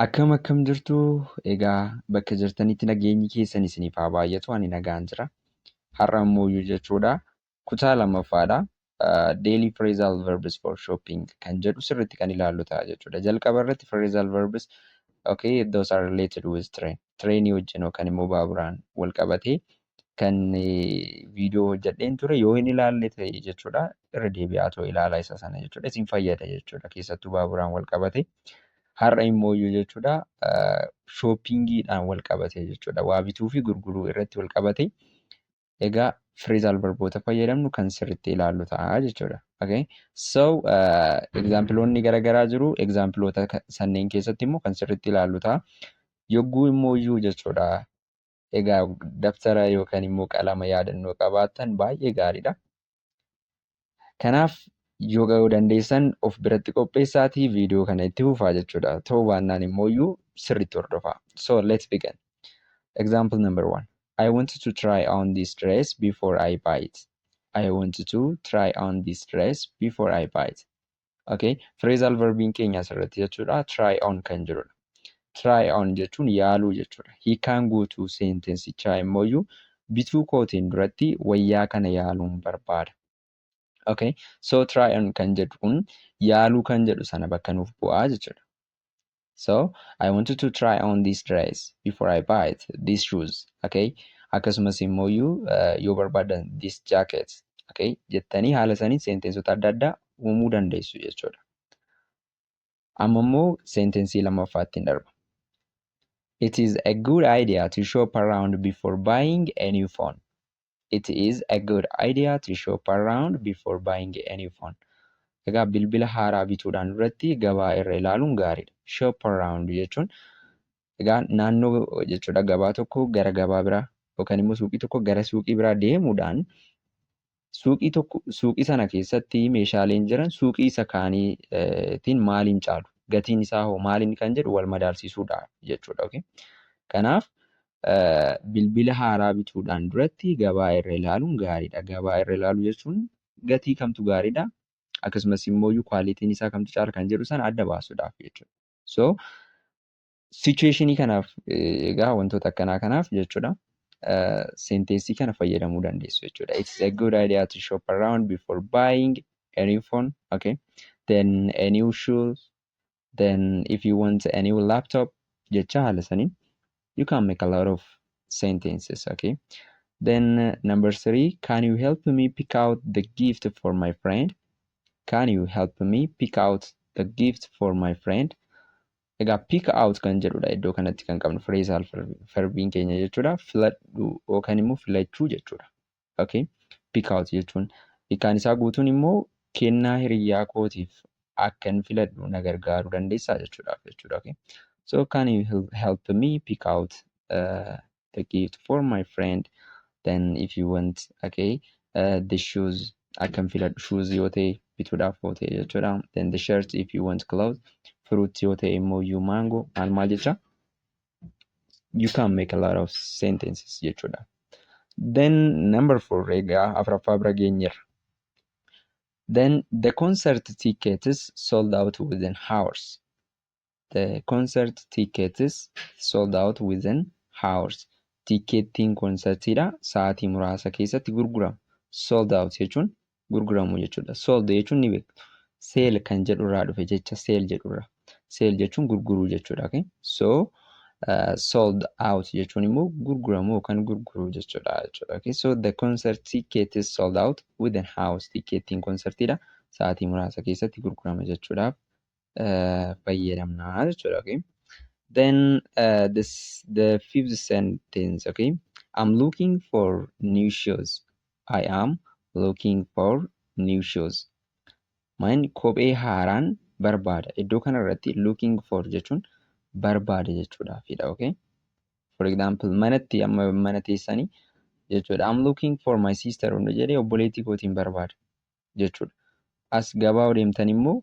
Akkam akkam jirtu egaa bakka jirtanitti nageenyi keessan isiniif haa baay'atu ani nagaan jira har'a immooyyuu jechuudha kutaa lammaffaadha daily phrasal verbs for shopping kan jedhu sirriitti kan ilaallu ta'a jechuudha jalqaba irratti phrasal verbs okay those are related with train trainii wajjin yookaan immoo baaburaan wal qabatee kan viidiyoo hojjedheen ture yoo hin ilaalle ta'e jechuudha irra deebi'aa too ilaala isa sana jechuudha isin fayyada jechuudha keessattuu baaburaan wal qabate har'a immoo iyyuu jechuudha shoopingiidhaan wal qabate jechuudha waa bituu fi gurguruu irratti wal qabate egaa fireezaal barboota fayyadamnu kan sirriitti ilaallu ta'a jechuudha. Okay. So egzaampiloonni garaagaraa jiru egzaampiloota sanneen keessatti immoo kan sirriitti ilaallu ta'a. Yogguu immoo iyyuu jechuudha Egaa dabtara yookaan immoo qalama yaadannoo qabaattan baay'ee gaariidha. Kanaaf yoo ga'uu dandeessan of biratti qopheessaatii viidiyoo kana itti fufaa jechuudha. Ta'uu baannaan immoo iyyuu sirriitti hordofaa. So let's begin. Example number one. I wanted to try on this dress before I buy it. I wanted to try on this dress before I buy it. Okay. Phrasal verbiin keenya asirratti jechuudha. Try on kan jirudha. Try on jechuun yaaluu jechuudha. Hiikaan guutuu seentensichaa immoo iyyuu bituu kootiin duratti wayyaa kana yaaluun barbaada. Okay. So try on kan jedhu kun yaaluu kan jedhu sana bakka nuuf bu'aa jechuudha. so I wanted to try on this dress before I buy it this shoes okay akkasumas immoo iyyuu eh, yoo barbaadan this jacket okay jettanii haala saniin seenteensota adda addaa uumuu dandeessu jechuudha. Amma immoo seentensii lammaffaatti hin darba. It is a good idea to shop around before buying a new phone. It is a good idea to shop around before buying a new phone. Egaa bilbila haaraa bituudhaan duratti gabaa irra ilaaluun gaariidha. Shop around jechuun egaa naannoo jechuudha gabaa tokko gara gabaa biraa yookaan immoo suuqii tokko gara suuqii biraa deemuudhaan suuqii tokko suuqii sana keessatti meeshaaleen jiran suuqii isa kaaniitiin maaliin caalu gatiin isaa hoo maaliin kan jedhu wal madaalsiisuudha jechuudha. Okay? Kanaaf bilbila haaraa bituudhaan duratti gabaa irra ilaaluun gaariidha. Gabaa irra ilaaluu jechuun gatii kamtu gaariidha akkasumas immoo kwaalitiin isaa kamtu caala kan jedhu sana adda baasuudhaaf jechuudha. So sichuweeshinii kanaaf egaa wantoota akkanaa kanaaf jechuudha senteensii kana fayyadamuu dandeessu jechuudha. It's a good idea to shop around before buying a new phone. Okay. Then a new shoes then if you want a new laptop jecha haala saniin you can make a lot of sentences okay then uh, number three can you help me pick out the gift for my friend can you help me pick out the gift for my friend egaa pick out kan jedhudha iddoo kanatti kan qabnu phrasal verbiin keenya jechuudha filadhu yookaan immoo filachuu jechuudha okay pick out jechuun hikaan isaa guutuun immoo kennaa hiriyyaa kootiif akkan filadhu na gargaaruu dandeessaa jechuudhaaf jechuudha okay so can you help, help me pick out uh, the gift for my friend then if you want okay uh, the shoes akkan filadhu shoes yoo ta'e bituudhaaf yoo ta'e jechuudha then the shirt if you want clothes fruit yoo ta'e immoo you mango maal maal jecha you can make a lot of sentences jechuudha. Then number four egaa afraffaa bira geenyerra. Then the concert tickets sold out within hours. The concert tickets sold out within hours. Tikkeettiin konsertiidha sa'aatii muraasa keessatti gurgurama. Sold out jechuun gurguramu jechuudha. Sold jechuun ni beektu. Sale kan jedhu irraa dhufe jecha sale jedhu irraa. Sale jechuun gurguruu jechuudha. Okay? So uh, sold out jechuun immoo gurguramu yookaan gurguruu jechuudha jechuudha. Okay? So the concert ticket is sold out within hours. Tikkeettiin konsertiidha. Sa'aatii muraasa keessatti gurgurama jechuudhaaf fayyadamna jechuudha okay then uh, this the fifth sentence okay i'm looking for new shoes i am looking for new shoes man kophee haaraan barbaada iddoo kana irratti looking for jechuun barbaada jechuudha fidha okay for example manatti amma mana teessanii jechuudha i'm looking for my sister hunda jedhee obboleettii kootiin barbaada jechuudha. As gabaa yoo deemtan immoo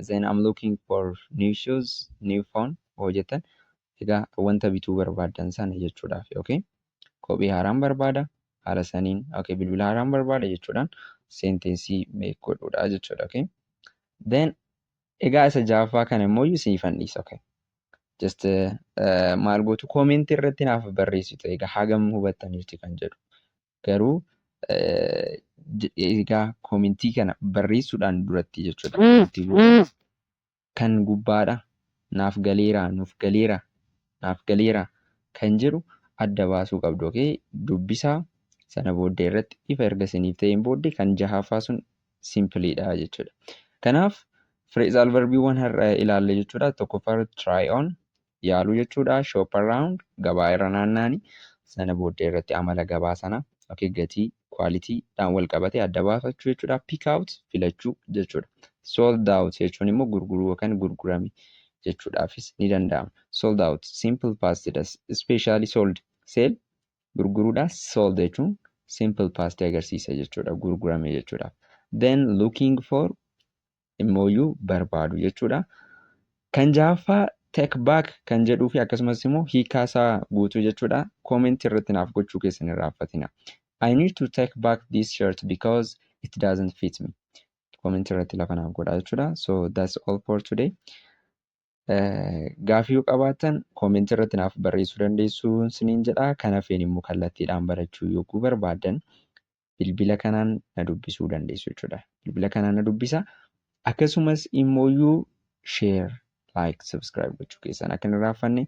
then I'm looking for new shoes, new phone yoo jettan egaa wanta bituu barbaaddan sana jechuudhaaf okay. Kophee haaraan barbaada haala saniin okay bilbila haaraan barbaada jechuudhaan senteensii meek godhuudha jechuudha okay. Then egaa isa jaaffaa kana immoo isiniif handhiisa okay. Just uh, maal gootu koomentii irratti naaf barreessitu egaa hagam hubattaniirti kan jedhu. garuu egaa koomentii kana barreessuudhaan duratti jechuudha koomentii gubbaatti kan gubbaadha naaf galeera nuuf galeera naaf galeera kan jedhu adda baasuu qabdu okay dubbisaa sana booddee irratti ifa erga isiniif ta'een booddee kan jahaffaa sun simpiliidha jechuudha kanaaf fireezaal verbiiwwan har'a ilaalle jechuudha tokkoffaa irratti try on yaaluu jechuudha. Shop around gabaa irra naanna'ani sana booddee irratti amala gabaa sana okay, gatii quality dhaan wal qabate adda baafachuu jechuudha. Pick out filachuu jechuudha. Sold out jechuun immoo gurguruu yookaan gurgurame jechuudhaafis ni danda'ama. Sold out simple past das specially sold sell gurguruudha. Sold jechuun simple past agarsiisa jechuudha gurgurame jechuudha. Then looking for immooyyuu barbaadu jechuudha. Kan jahaffaa take back kan jedhuu fi akkasumas immoo hiikaa isaa guutuu jechuudha. Comment irratti naaf gochuu keessan hin raaffatina. I need to take back this shirt because it doesn't fit me. Comment irratti lafa naaf godhaa jechuudha. So that's all for today. Eh, Gaaffii yoo qabaattan comment irratti naaf barreessuu dandeessu siniin jedha. Kan hafeen immoo kallattiidhaan barachuu yogguu barbaaddan bilbila kanaan na dubbisuu dandeessu jechuudha. Bilbila kanaan na dubbisa. Akkasumas immoo share, like, subscribe gochuu keessan akka hin irraanfanne